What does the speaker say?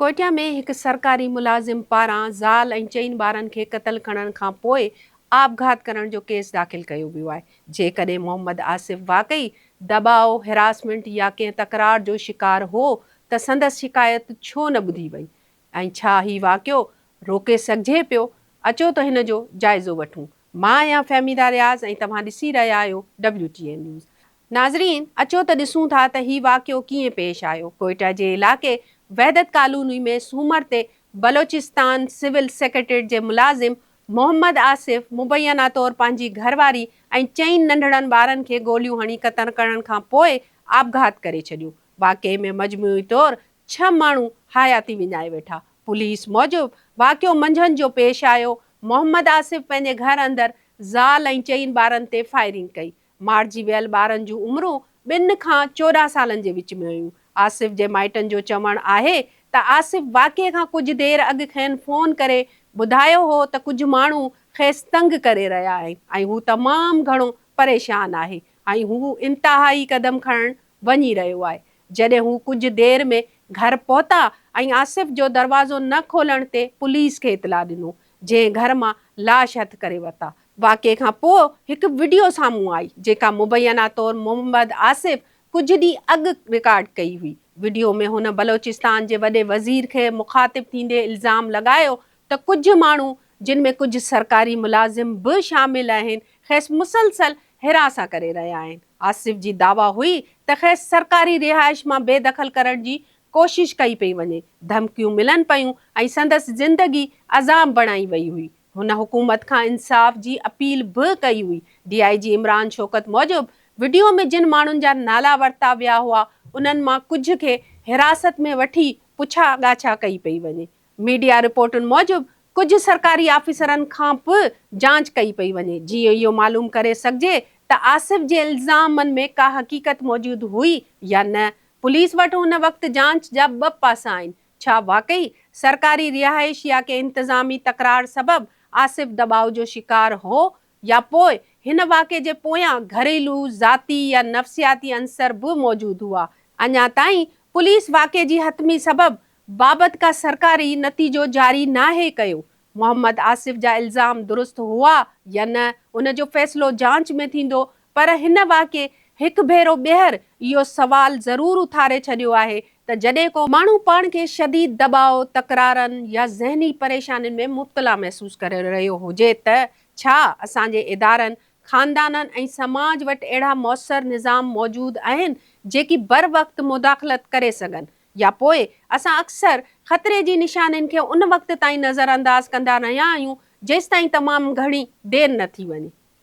ڪوئٽه ۾ هڪ سرڪاري ملازم پاران زال ۽ چئن ٻارن کي قتل کڻڻ کان پوء آپگهات ڪرڻ جو ڪيس داخل ڪيو ويو آهي، جيڪڏهن محمد آصف واقعي دٻاء، هراسمينٽ يا ڪنهن تڪرار جو شڪار هو ته سندس شڪايت ڇو نه ٻڌي وئي ۽ ڇا هي واقعو روڪي سگهجي پيو؟ اچو ته هن جو جائزو وٺون، مان آهيان فهميده رياض ۽ توهان ڏسي رهيا آهيو WTA نيوز. ناظرين اچو ته ڏسون ٿا ته هي واقعو ڪيئن پيش آيو. ڪوئيٽا جي علائقي وحدت ڪالوني ۾ سومر تي بلوچستان سول سيڪريٽريٽ جي ملازم محمد آصف مبينا طور پنهنجي گهر واري ۽ چئن ننڍڙن ٻارن کي گوليون هڻي قتل ڪرڻ کان پوء آپگهات ڪري ڇڏيو. واقعي ۾ مجموعي طور ڇهه ماڻهو حياتي وڃائي ويٺا. پوليس موجب واقعو منجهند جو پيش آيو. محمد آصف پنهنجي گهر اندر زال ۽ چئن ٻارن تي فائرنگ ڪئي. مارجي ويل ٻارن جون عمرون ٻن کان چوڏهن سالن جي وچ ۾ هيون. آصف جي مائٽن جو چوڻ آهي ته آصف واقعي کان ڪجهه دير اڳ کين فون ڪري ٻڌايو هو ته ڪجهه ماڻهو کيس تنگ ڪري رهيا آهن ۽ هو تمام گهڻو پريشان آهي ۽ هو انتهائي قدم کڻڻ وڃي رهيو آهي. جڏهن هو ڪجهه دير ۾ گهر پهتا ۽ آصف جو دروازو نه کولڻ تي پوليس کي اطلاع ڏنو ۽ جنهن گهر مان لاش هٿ ڪري ورتا. واقعي کان پوء هڪ وڊيو سامهون آئي جيڪا مبينا طور محمد آصف ڪجهه ڏينهن اڳ رڪارڊ ڪئي هئي. وڊيو ۾ هن بلوچستان جي وڏي وزير کي مخاطب ٿيندي الزام لڳايو ته ڪجهه ماڻهو جن ۾ ڪجهه سرڪاري ملازم به شامل آهن کيس مسلسل حراسان ڪري رهيا آهن. آصف جي دعويٰ هئي ته کيس سرڪاري رهائش مان بي دخل ڪرڻ جي ڪوشش ڪئي پئي وڃي، ڌمڪيون ملن پيون ۽ سندس زندگي عذاب بڻائي وئي هئي. هن حڪومت کان انصاف جي اپيل به ڪئي هئي. ڊي آء جي عمران شوڪت موجب، وڊيو ۾ جن ماڻهن جا نالا ورتا ويا هئا، انهن مان ڪجهه کي حراست ۾ وٺي پڇا ڳاڇا ڪئي پئي وڃي. ميڊيا رپورٽن موجب، ڪجهه سرڪاري آفيسرن کان به جاچ ڪئي پئي وڃي، جيئن اهو معلوم ڪري سگهجي ته آصف جي الزامن ۾ ڪا حقيقت موجود هئي يا نه، پوليس وٽ هن وقت جانچ جا ٻه پاسا آهن، ڇا واقعي سرڪاري رهائش يا ڪنهن انتظامي تڪرار سبب آصف دٻاء جو شڪار هو يا پوء هن واقعي جي پويان گهريلو، ذاتي يا نفسياتي عنصر به موجود هئا. اڃا تائين پوليس واقعي جي حتمي سبب بابت ڪا سرڪاري نتيجو جاري ناهي ڪيو، محمد آصف جا الزام درست هئا يا نه ان جو فيصلو جاچ ۾ ٿيندو پر هن واقعي هڪ ڀيرو ٻيهر اهو سوال ضرور اٿاري ڇڏيو آهي ته جڏهن ڪو ماڻهو پاڻ کي شديد دٻاء، تڪرارن يا ذهني پريشانين ۾ مبتلا محسوس ڪري رهيو هجي ته ڇا اسان جي ادارن، خاندانن ۽ سماج وٽ اهڙا موثر نظام موجود آهن جيڪي بروقت مداخلت ڪري سگهن؟ يا پوء اسان اڪثر خطري جي نشانين کي ان وقت تائين نظرانداز ڪندا رهيا آهيون جيستائين تمام گهڻي دير نه ٿي وڃي.